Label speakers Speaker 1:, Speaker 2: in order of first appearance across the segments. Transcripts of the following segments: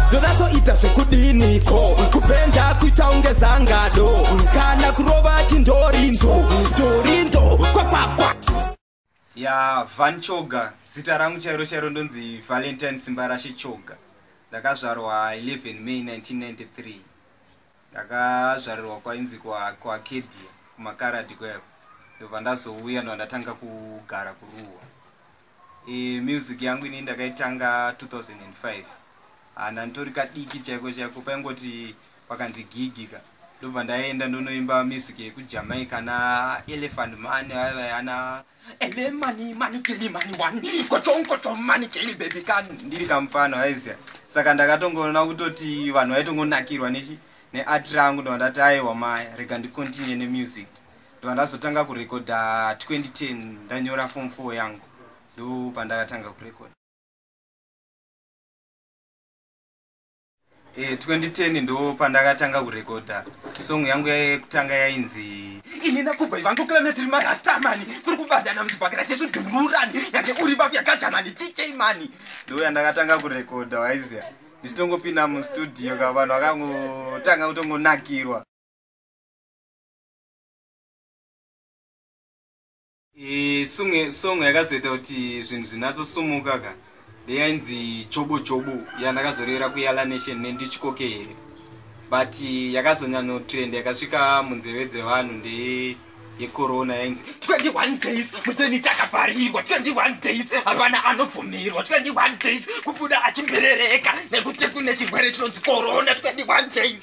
Speaker 1: ndonatsoita zvekudini ko kupenda kuita unge zangado kana kurova chindorindo ndorindo kwakwakwa ya
Speaker 2: van choga zita rangu chairo chairo ndonzi valentine simbarashe choga ndakazvarwa 11 may 1993 ndakazvarirwa kwainzi kuacadia kumakaradi kweko ndobva ndazouya ndovandatanga kugara kuruwa Eh, music yangu ini ndakaitanga 2005 hana nditori kadiki chaiko chaiko paingoti pakanzi gigi ka ndobva ndaenda ndonoimba music yekujamaica naelephant mani vaiva ana ele mani mani kili mani wani kochonkocho mani kili bebi ka ndiri kamufana vaiziva saka ndakatongoona kutoti vanhu vaitongonakirwa nechi neart rangu ndova ndati aiwa maya rega ndicontinue nemusic ndobva ndazotanga kurekodha 2010 ndanyora form 4 yangu ndopandakatanga kurekodha e, eh, 2010 ndopandakatanga kurekodha song yangu yekutanga yainzi ini nakubva ivangu klana tiri marastamani kuri kubadana muzibhakira tisu dhururani yake uri bafu yakajamani tichei mani ndoyandakatanga kurekodha waiziya ndichitongopinda mustudio ka vanhu vakangotanga kutongonakirwa Eh, song song yakazoita kuti zvinhu zvinatsosumuka ka ndeyainzi chobo chobo yandakazorevera kuyala nation nendichikoke here but yakazonyanotrend yakasvika munzeve dzevanhu ndeye yecorona yainzi 21 days muteni takavharirwa 21 days hapana anobvumirwa 21 days kubuda achimberereka nekuti kune chirwere chinonzi corona 21 days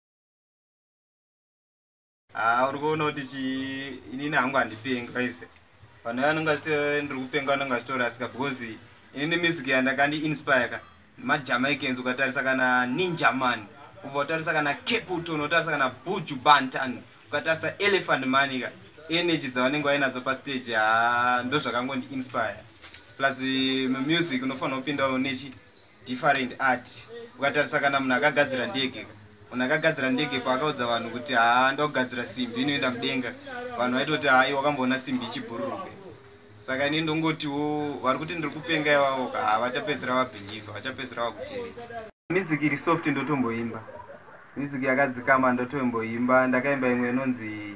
Speaker 2: Haa uri kuona kuti chii inini hangu handipengi vaise vanhu vanenge vachiti ndiri kupenga vanenge vachitorasika because inini music yandakandi inspire ka nemajamaicans ukatarisa kana ninjaman ubva utarisa kana caputon unotarisa kana buju bantan ukatarisa elephant mani ka energy dzavanenge vainadzo pastage haa ndozvakangondi inspire plus eh, music unofanira kupinda unechi different art ukatarisa kana munhu akagadzira ndege munhu akagadzira ndege paakaudza vanhu kuti haa ndakugadzira simbi inoenda mudenga vanhu vaitoti haa iwe wakamboona simbi ichibhururuka saka ini ndongotiwo vari kuti ndiri kupenga ivavo ka haa vachapedzisira vabhilivha vachapedzisira vakutereka music iri soft ndotomboimba music yakadzikama ndotomboimba ndakaimba imwe inonzi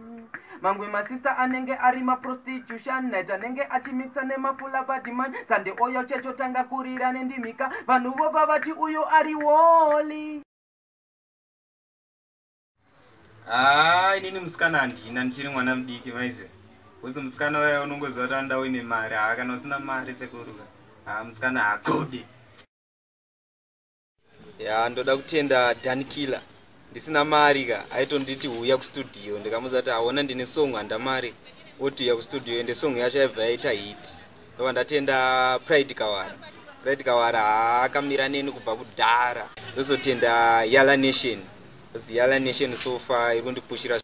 Speaker 2: Mamwe masista anenge ari maprostitution night anenge achimixa nemafula badman sande oyo chechotanga kurira nendimika vanhu vobva vati uyu ari woli haa inini musikana handina ndichiri mwana mudiki maize kuzi musikana waya unongoziva kuti anoda uine mari haa kana usina mari sekuruka haa musikana hakudi ya ndoda kutenda danikila ndisina mari ka aitonditi huya kustudio ndikamuudza kuti aona ndine song handa mari woti uya kustudio ende song yacho yaibva yaita hit ndova ndatenda pride kawara pride kawara haakamira neni kubva kudhara ndozotenda yala nation yala nation sofa iri kundipushira